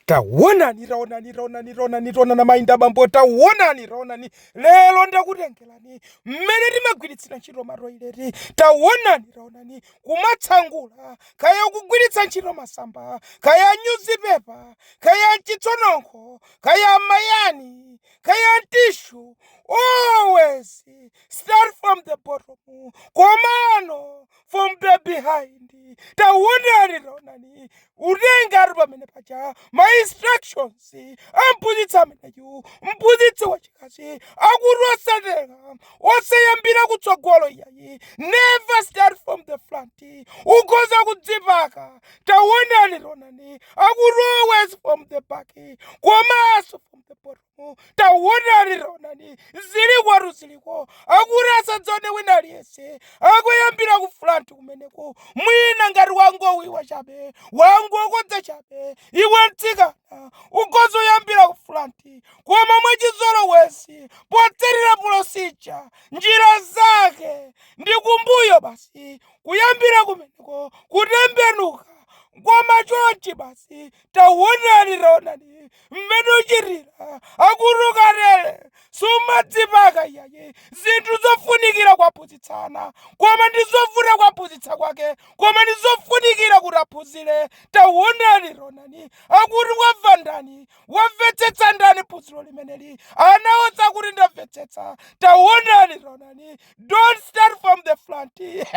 Taonani, taonani, taonani, taonani, taonani amayi ndi abambo, taonani, taonani, lero ndakutengerani mmene timagwiritsira ntchito matoileti, taonani, taonani, kumasangula, kaya ukugwiritsa ntchito masamba, kaya nyuzipepa, kaya n'chitsononkho, kaya m'mayani, kaya n'tishu, always start from the bottom, komano from the behind taonani taonani kutengera pamene paja ma instructions a mphunzitsi ameneyu mphunzitsi wachikazi, akuti osatera osayambira kutsogolo iyayi never start from the front ukhoza kudzipaka taonani taonani akuti always from the back komanso from the bottom ufumu tawonani taonani zili kwatu ziliko akuti ndisadzaone wina aliyense akuyambira ku fulanti kumeneko mwina ngati wangobiba chabe wangokodza chabe iwe mtsikana ukhoza kuyambira ku fulanti koma mwachizolowezi potsatira polosija njira zake ndi kumbuyo basi kuyambira kumeneko kutembenuka koma chonchi basi taonani taonani mmene uchitira akuti ukatere sumadzipaka iyayi zinthu zofunikira kuwaphunzitsa ana koma ndi zovuta kuwaphunzitsa kwake koma ndi zofunikira kuti aphunzire taonani taonani akuti wamva ndani wamvetsetsa ndani phunziro limeneli anaonetsa kuti ndamvetsetsa taonani taonani don't start from the front